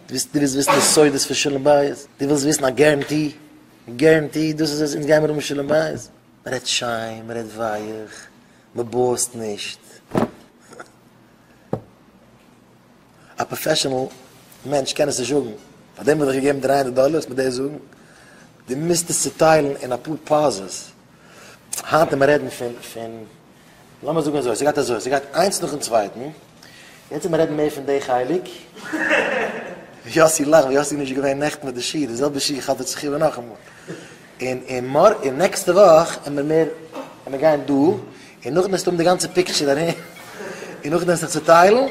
דו ווילסט וויסן די סודות פון שלום בית? דו ווילסט וויסן א גערענטי? גערענטי, דאס איז עס, אונז גיימיר האבן שלום בית. מען רעדט שיין, מען רעדט ווייעך, מען בועזט נישט. א פראפעשענעל מענטש קען עס נישט זאגן, פארדעם האב איך געגעבן דרײַ הונדערט דאלער, וועסט מיר דאס זאגן? דו מוזט עס צוטיילן אין אפאר פאזעס. היינט מיר רעדן פון פון לאמיר זאגן אזוי ס'גייט אזוי ס'גייט איינס נאכן צווייטן יעצט מיר רעדן מער פון די חלק ווי יאסי לאכט ווי יאסי נישט געווען נעכטן מיט די שיך די זעלבע שיך האט ער זיך איבער נאכאמאל און און מאר און נעקסטע וואך עמער מער עמער גיין דא און נאכדעם וועסטו האבן די גאנצע פיקטשער ארום און נאכדעם וועסט דיך צוטיילן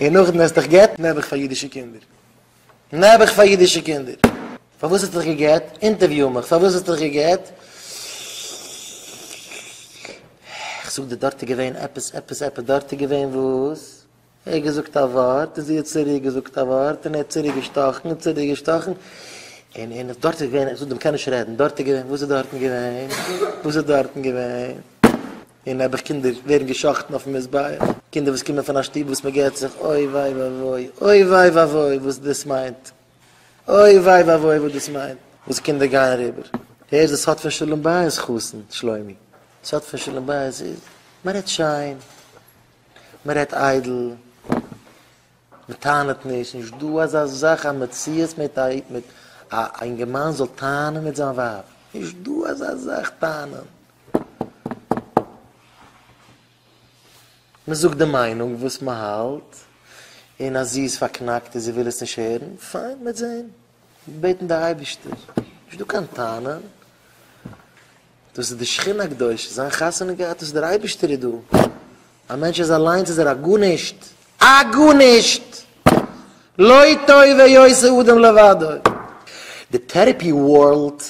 און נאכדעם וועסט דיך גט נעבעך פאר אידישע קינדער נעבעך פאר אידישע קינדער. פארוואס האסטו דיך גע'גט? אינטערוויו מיך, פארוואס האסטו דיך גע'גט? איך זאג דיר דארט איז געווען עפעס עפעס עפעס דארט איז געווען וואס? ער האט געזאגט א ווארט און זי האט צוריק געזאגט א ווארט און ער האט צוריק געשטאכן און צוריק געשטאכן און און דארט איז געווען איך זאג דיר מ'קען נישט רעדן דארט איז געווען וואס איז דארטן געווען? וואס איז דארטן געווען? און נעבעך קינדער ווערן געשאכטן אויפן מזבח, קינדער וואס קומען פון א שטוב וואס מ'גערט זיך אוי וויי ואבוי, אוי וויי ואבוי וואס דאס מיינט, אוי וויי ואבוי וואס דאס מיינט, וואס קינדער גייען אריבער, הערסט דאס האט פון שלום בית חתן שלומי, דאס האט פון שלום בית, מען רעדט שיין, מען רעדט איידל. מען טענה'ט נישט, נישט דא אזא זאך א מציאות מיט א מיט א אינגערמאן זאל טענה'ן מיט זיין ווייב, נישט דא אזא זאך טענה'ן. מען זאגט די מיינונג וואס מען האלט, און אז זי איז פארקנאקט און זי וויל עס נישט הערן, פיין, מען וועט זעהן, בעטן די אייבערשטער, נישט דא קיין טענה'ן. דאס איז די שכינה הקדושה, זיין חתונה געהאט, דאס איז דער אייבערשטער איז דא, א מענטש איז אליינס איז ער א גארנישט, א גארנישט! לא טובה יעשה אדם לבדו. די טערעפי ווארלד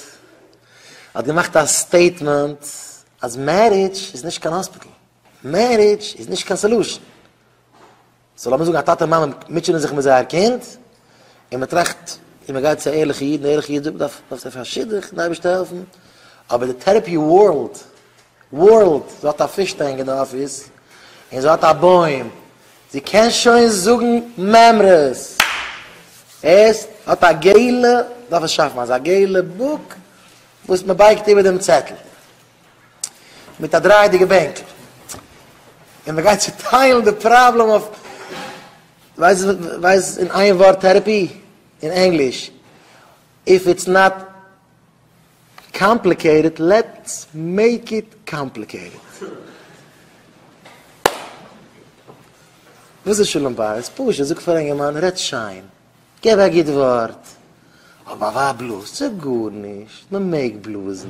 האט געמאכט א סטעיטמענט אז מערידזש איז נישט קיין האספיטעל, מערידזש איז נישט קיין סעלושען, סאו לאמיר זאגן א טאטע מאמע מוטשענען זיך מיט זייער קינד, און מען טראכט און מען גייט צו א ערליכע איד, און דער ערליכע איד זאגט דארף דארפסטו פאר שידוך און די אייבערשטער העלפן, אבער די טערעפי ווארלד ווארלד זי האט א פיש טענק אין די אפיס, און זי האט א בוים, זי קען שוין זאגן מימרות, עס האט א געלע, דארף עס שאפן אזא געלע בוק וואס מען בייגט איבער דעם צעטל, מיט א דרייעדיגע בענקל, און מ'גייט צוטיילן די פראבלעם אויף ווייסט ווייסט אין איין ווארט טערעפי אין ענגליש, איף איטס נאט קאמפליקעיטעד לעטס מעיק איט קאמפליקעיטעד. וואס איז שלום בית? פשוט, זאג פאר א אינגערמאן רעד שיין, געב א גוט ווארט, אבער ביי א ווייב בלאז זיך גארנישט, מ'מעג בלאזן.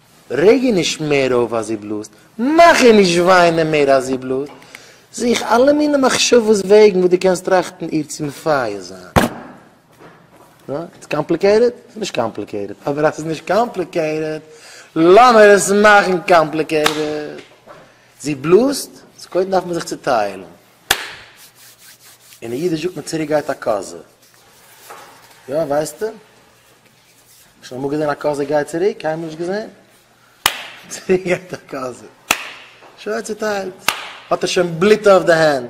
רעג איר נישט מער אויף אז איר בלאזט, מאך איר נישט וויינען מער אז איר בלאזט, זוך אלע מיני מחשבות וועגן וואס דו קענסט טראכטן איר צו מפייס זיין. איטס קאמפליקעיטעד? ס'איז נישט קאמפליקעיטעד, אבער אז ס'איז נישט קאמפליקעיטעד, לאמיר עס מאכן קאמפליקעיטעד. זי בלאזט, סאו קודם דארף מען זיך צוטיילן. אין אידיש זאגט מען צוריקגייט א קאזע. יא, ווייסטו? שוין אמאל געזען א קאזע גייט צוריק? קיינמאל נישט געזען. צוריק גייט א קאזע. שוין צוטיילט. האט ער שוין בלוט אויף די הענט.